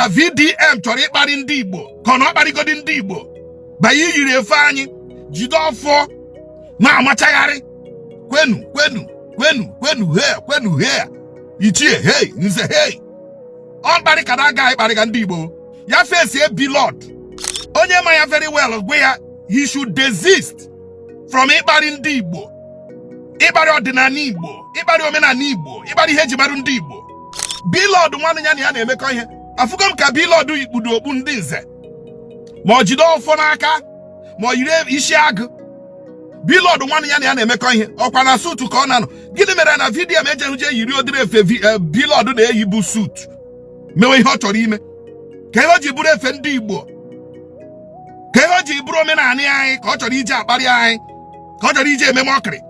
na VDM chọrọ ịkparị ndị Igbo ka ọ na ọ kparịgodi ndị Igbo bịa yiri efe anyị jide ọfọ na-amachagharị kwenu kwenu kwenu kwenu he kwenu he ichie hei nze hei ọ mkparị ka na aga ịkparịga ndị Igbo ya face Blord onye ma ya very well gwa ya he should desist from ịkparị ndị Igbo ịkparị ọdịnala Igbo ịkparị omenala Igbo ịkparị ihe eji marụ ndị Igbo Blord nwanne ya na ya na-emekọ ihe afụgo m ka Blord kpudo okpu ndị nze ma ọ jide ọfọ n'aka ma ọ yiri isi agụ Blord nwanne ya na ya na-emekọ ihe ọkwa na suit ka ọ na-anọ gịnị mere na VDM ejeghị je yiri ụdịrị efe eh, Blord na-eyi bụ suit mewe ihe ọ chọrọ ime ka ihe o ji bụrụ efe ndị igbo ka ihe o ji bụrụ omenala anyị ka ọ chọrọ iji akparị anyị ka ọ chọrọ iji eme mockery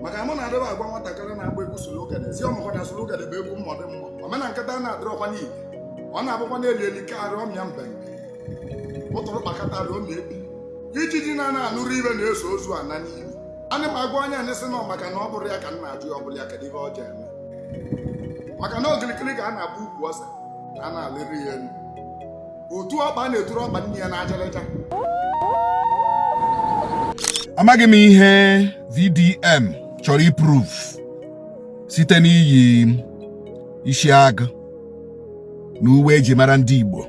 maka mụ na-adịba agwa nwatakịrị na-agba egwu surugede sị ọ makwa na surugede bụ egwu ndị mmụọ omena nkịta a na-adịrọkwa n'igwe ọ na-abụkwa n'elu elu ka arịọ mịa mbe ụtụrụ kpakọta arịọ mịa ebi ijiji na-ana anụrụ ife na-eso ozu ana n'ili ana m agwa onye anyị sị nọ maka na ọ bụrụ ya ka m na-ajụ ya ọ bụrụ ya kedu ihe o ji eme maka na okilikili ka a na-agba ukwu ose a na-alịrị ya elu otu ọkpa na-eturu ọkpa nne ya n'ajaraja amaghị m ihe VDM chọrọ iprove site n'iyi isi agụ na uwe eji mara ndị Igbo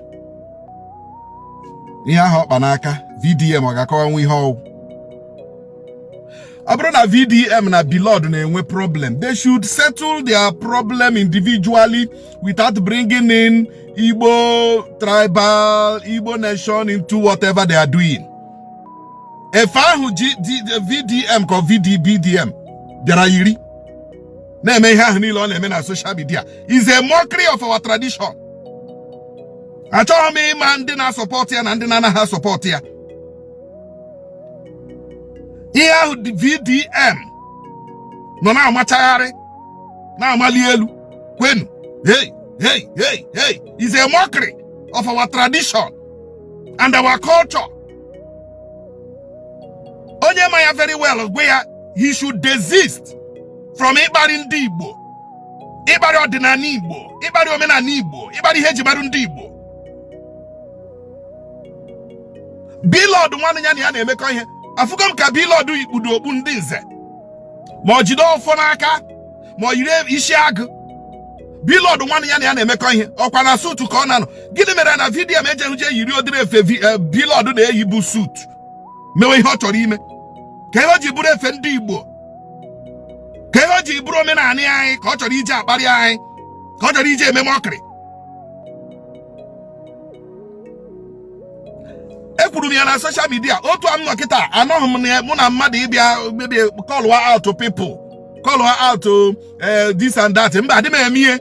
ihe ahụ ọ kpa n'aka VDM ọ ga-akọwanwu ihe ọ wụ ọ bụrụ na VDM na Blord na-enwe problem they should settle their problem individually without bringing in Igbo tribal, Igbo nation into whatever they are doing. Efe ahụ VDM ka VDM bịara yiri na-eme ihe ahụ niile ọ na-eme na social media is a mockery of our tradition. Achọghị m ịma ndị na-asupport ya na ndị na-anaghị asupport ya. Ihe ahụ VDM nọ na-amachagharị na-amali elu kwenu hey hey hey hey is a mockery of our tradition and our culture onye ma ya very well gwa ya he should desist from ịkparị ndị Igbo ịkparị ọdịnala Igbo ịkparị omenala Igbo ịkparị ihe eji marụ ndị Igbo Blord nwanne ya na ya na-emekọ ihe afụgo m ka Blord kpudo okpu ndị nze ma o jide ọfọ n'aka ma o yiri isi agụ Blord nwanne ya na ya na-emekọ ihe ọkwa na suit ka ọ na-anọ gịnị mere na VDM ejeghị je yiri ụdịrị efe eh, Blord na-eyi bụ suit mewe ihe ọ chọrọ ime ka ihe o ji bụrụ efe ndị Igbo ka ihe o ji bụrụ omenala anyị ka ọ chọrọ iji akparị anyị ka ọ chọrọ iji eme mockery ekwuru m ya na social media otu a m nọ kịta anọghị m na mụ na mmadụ ịbịa maybe call out people call out eh, this and that mba adị m eme ihe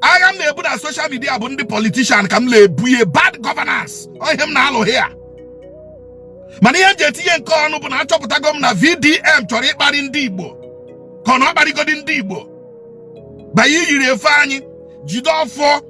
agha m na-ebu na social media bụ ndị politician ka m na-ebu ihe bad governance ọ ihe m na-alụ here mana ihe m ji etinye nke ọnụ bụ na achọpụtago m na VDM chọrọ ịkparị ndị Igbo ka ọ na ọ kparịgodi ndị Igbo by iyiri efe anyị jide ọfọ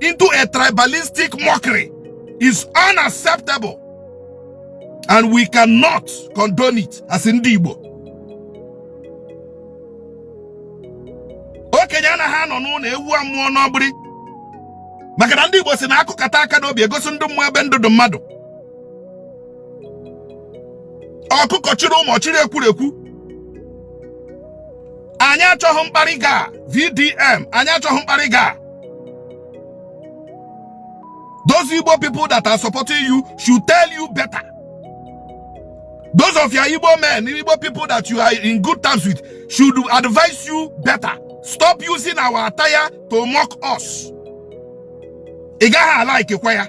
into a tribalistic mockery is unacceptable and we cannot condone it as ndị Igbo okenye anaghị anọ n'ụlọ ewu amụọ n'ọgbịrị maka na ndị Igbo sị na a kụkata aka n'obi e gosi ndị mmụọ ebe ndụ dị mmadụ ọkụkọ chiri ụmụ o chiri ekwurekwu anyị achọghị mkparị gị a VDM anyị achọghị mkparị gị a those Igbo people that are supporting you should tell you better those of your Igbo men Igbo people that you are in good terms with should advise you better stop using our attire to mock us ị gaghị alikekwa ya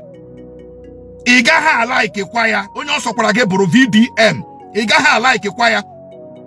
ị gaghị alikekwa ya onye ọ sọkwara gị bụrụ VDM ị gaghị alikekwa ya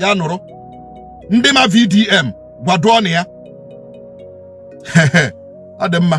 ya nụrụ ndị ma VDM gwaduonụ ya ọ dị mma